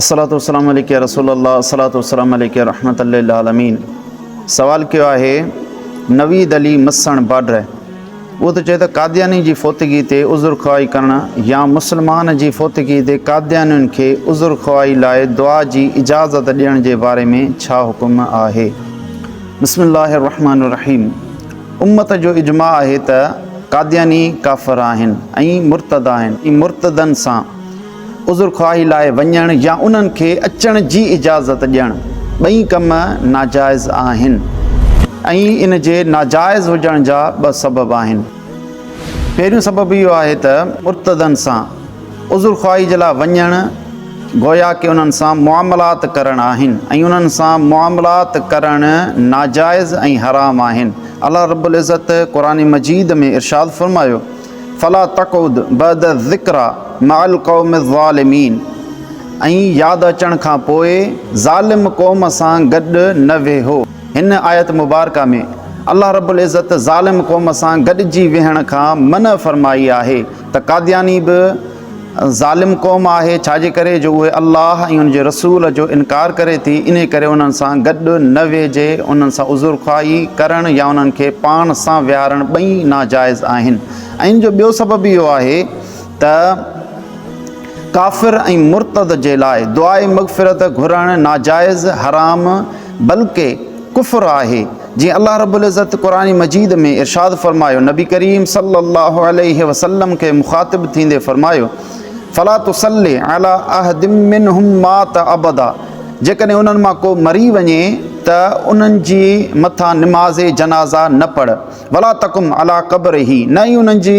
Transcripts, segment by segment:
الصلوة والسلام عليك يا رسول الله الصلوة والسلام عليك يا رحمة للعالمين سوال ڪيو آهي نويد علي مسڻ باڊر اهو ته چئي ته قادياني جي فوتگي تي عذر خواهي ڪرڻ يا مسلمان جي فوتگي تي قاديانين کي عذر خواهي لاء دعا جي اجازت ڏيڻ جي باري ۾ ڇا حڪم آهي بسم الله الرحمن الرحيم امت جو اجماع آهي ته قادياني ڪافر آهن ۽ مرتد آهن ۽ مرتدن سان عذرخواهي لاء وڃڻ يا انهن کي اچڻ جي اجازت ڏيڻ ٻئي ڪم ناجائز آهن ۽ ان جي ناجائز هجڻ جا ٻه سبب آهن. پهريون سبب اهو آهي ته مرتدن سان عذرخواهي جي لاء وڃڻ گويا ڪي انهن سان معاملات ڪرڻ آهن ۽ انهن سان معاملات ڪرڻ ناجائز ۽ حرام آهن الله رب العزت قرآن مجيد ۾ ارشاد فرمايو. فلا تقعد بعد الذڪري مع القوم الظالمين ۽ ياد اچڻ کان پوء ظالم قوم سان گڏ نه ويهو. هن آيت مبارڪه ۾ الله رب العزت ظالم قوم سان گڏجي ويهڻ کان منع فرمائي آهي ته قادياني به ظالم قوم آهي ڇاجي ڪري جو اهي الله ۽ ان جي رسول جو انڪار ڪري ٿي انهي ڪري انهن سان گڏ نه ويهجي انهن سان عذرخواهي ڪرڻ يا انهن کي پاڻ سان ويهارڻ ٻئي ناجائز آهن ۽ ان جو ٻيو سبب اهو آهي ته ڪافر ۽ مرتد جي لاء دعائي مغفرت گهرڻ ناجائز حرام بلڪه ڪفر آهي جيئن الله رب العزت قرآن مجيد ۾ ارشاد فرمايو نبي ڪريم صلّي الله عليه وسلّم کي مخاطب ٿيندي فرمايو فلا تصلّ علي احد منهم مات ابدا جيڪڏهن انهن مان ڪو مري وڃي ته انهن جي مٿان نماز جنازه نه پڙهه ولا تقم علي قبره نه ئي انهن جي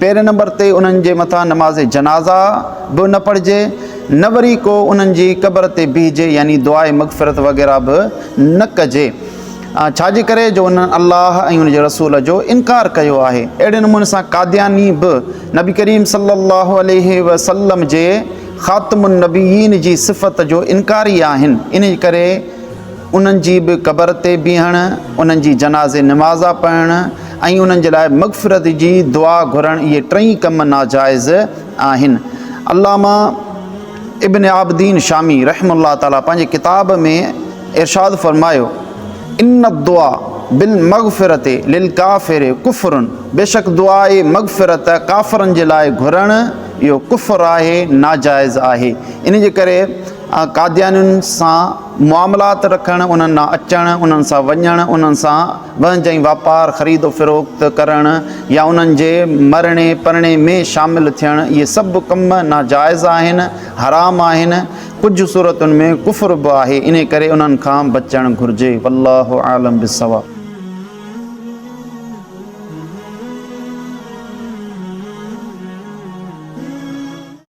پهرين نمبر تي انهن جي مٿان نماز جنازه به نه پڙهجي نه وري ڪو انهن جي قبر تي بيهجي يعني دعاء مغفرت وغيره به نه ڪجي ڇا جي ڪري جو انهن الله ۽ ان جي رسول جو انڪار ڪيو آهي اهڙي نموني سان قادياني به نبي ڪريم صلي الله عليه وسلم جي خاتم النبيين جي صفت جو انڪاري آهن انهي ڪري انهن جي به قبر تي بيهڻ، انهن جي جنازي نمازا پڙهڻ ۽ انهن جي لاء مغفرت جي دعا گهرڻ اهي ٽئي ڪم ناجائز آهن. علامه ابن عابدين شامي رحمه الله تعالٰي پنهنجي ڪتاب ۾ ارشاد فرمايو، ان الدعاء بالمغفرة للڪافر کفر بيشڪ دعاء مغفرت ڪافرن جي لاء گهرڻ اهو ڪفر آهي، ناجائز آهي. انهي جي ڪري قاديانين سان معاملات رکڻ، انهن ڏانهن اچڻ، انهن سان وڃڻ، انهن سان وهنج ۽ واپار، خريد و فروخت، ڪرڻ يا انهن جي مرڻي پرڻي ۾ شامل ٿيڻ، اهي سڀ ڪم ناجائز آهن، حرام آهن، ڪجهه صورتن ۾ ڪفر به آهي، انهي ڪري انهن کان بچڻ گهرجي. والله اعلم بالصواب.